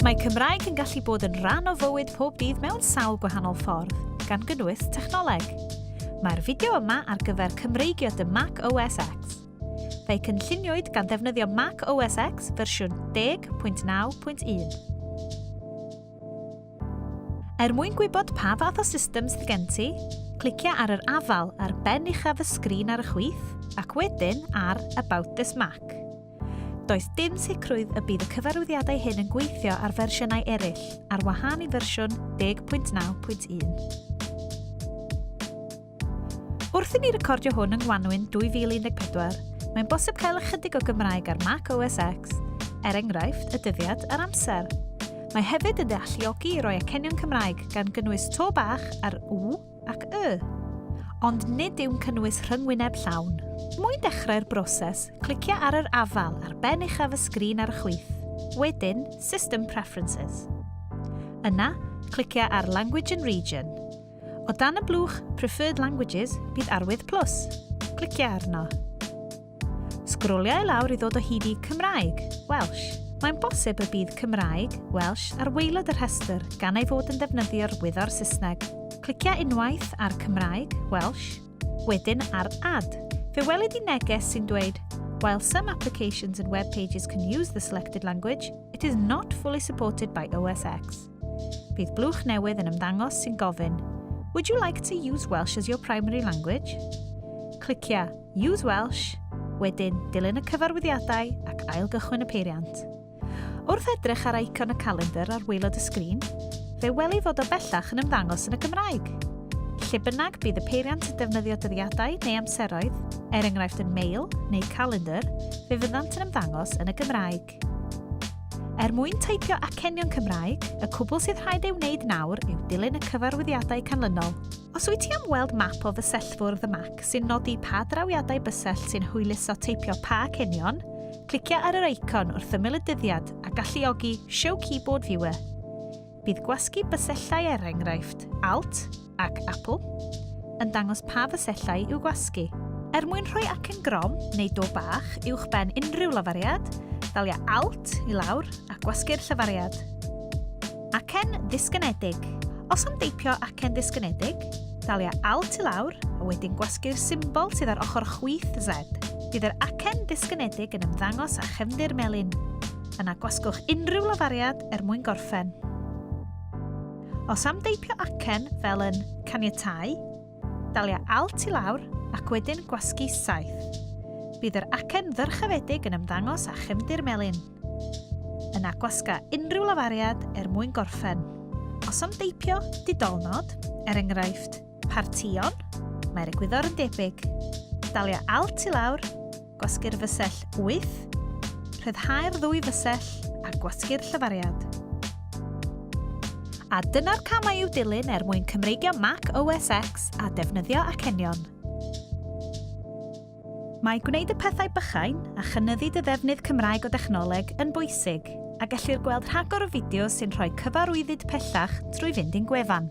Mae Cymraeg yn gallu bod yn rhan o fywyd pob dydd mewn sawl gwahanol ffordd, gan gynnwys technoleg. Mae'r fideo yma ar gyfer Cymreigio dy Mac OS X. Fe'i cynlluniwyd gan ddefnyddio Mac OS X fersiwn 10.9.1. Er mwyn gwybod pa fath o system sydd gen ti, clicia ar yr afael ar ben uchaf y sgrin ar y chwith ac wedyn ar About this Mac. Does dim sicrwydd y bydd y cyfarwyddiadau hyn yn gweithio ar fersiynau eraill, ar wahân i fersiwn 10.9.1. Wrth i ni recordio hwn yng Ngwanwyn 2014, mae'n bosib cael ychydig o Gymraeg ar Mac OS X, er enghraifft, y dyddiad a'r amser. Mae hefyd yn ddealluogi i roi acenion Cymraeg gan gynnwys to bach ar w ac y, ond nid yw'n cynnwys rhyngwyneb llawn. Mwyn dechrau'r broses, clicia ar yr afal ar ben uchaf y sgrin ar y chwith, wedyn System Preferences. Yna, clicia ar Language and Region. O dan y blwch Preferred Languages bydd arwydd plus. Clicia arno. Sgrolia i lawr i ddod o hyd i Cymraeg, Welsh. Mae'n bosib y bydd Cymraeg, Welsh, ar waelod y rhestr gan ei fod yn defnyddio'r wyddor Saesneg. Clicia unwaith ar Cymraeg, Welsh, wedyn ar Add. Fe welid i neges sy'n dweud While some applications and web pages can use the selected language, it is not fully supported by OSX. Bydd blwch newydd yn ymddangos sy'n gofyn Would you like to use Welsh as your primary language? Clicia Use Welsh, wedyn dilyn y cyfarwyddiadau ac ailgychwyn y peiriant. Wrth edrych ar icon y calendr ar waelod y sgrin, fe weli fod o bellach yn ymddangos yn y Gymraeg. Lle bynnag bydd y peiriant yn defnyddio dyddiadau neu amseroedd, er enghraifft yn mail neu calendr, fe fyddant yn ymddangos yn y Gymraeg. Er mwyn teipio acenion Cymraeg, y cwbl sydd rhaid ei wneud nawr yw dilyn y cyfarwyddiadau canlynol. Os wyt ti am weld map o fysellfwrdd y Mac sy'n nodi pa drawiadau bysell sy'n hwyluso teipio pa acenion, clicio ar yr eicon wrth ymyl y dyddiad a galluogi Show Keyboard Viewer. Bydd gwasgu bysellau er enghraifft, Alt, ac Apple, yn dangos pa fysellau i'w gwasgu. Er mwyn rhoi acen grom neu do bach uwch ben unrhyw lafariad, dalia Alt i lawr a gwasgu'r llyfariad. Acen ddisgynedig. Os am deipio acen ddisgynedig, dalia Alt i lawr a wedyn gwasgu'r symbol sydd ar ochr chwith Z. Bydd yr acen ddisgynedig yn ymddangos â chefndir melyn. Yna gwasgwch unrhyw lafariad er mwyn gorffen. Os am deipio acen fel yn caniatáu, dalia Alt i lawr ac wedyn gwasgu Saith. Bydd yr acen ddyrchafedig yn ymddangos â chefndir melyn. Yna gwasga unrhyw lafariad er mwyn gorffen. Os am deipio didolnod, er enghraifft, partïon, mae'r egwyddor yn debyg. Dalia Alt i lawr Gwasgu'r fysell wyth, rhyddhau'r ddwy fysell a gwasgu'r llyfariad. A dyna'r camau i'w dilyn er mwyn Cymreigio Mac OS X a defnyddio acenion. Mae gwneud y pethau bychain a chynyddu dy ddefnydd Cymraeg o dechnoleg yn bwysig, a gellir gweld rhagor o fideos sy'n rhoi cyfarwyddyd pellach drwy fynd i'n gwefan.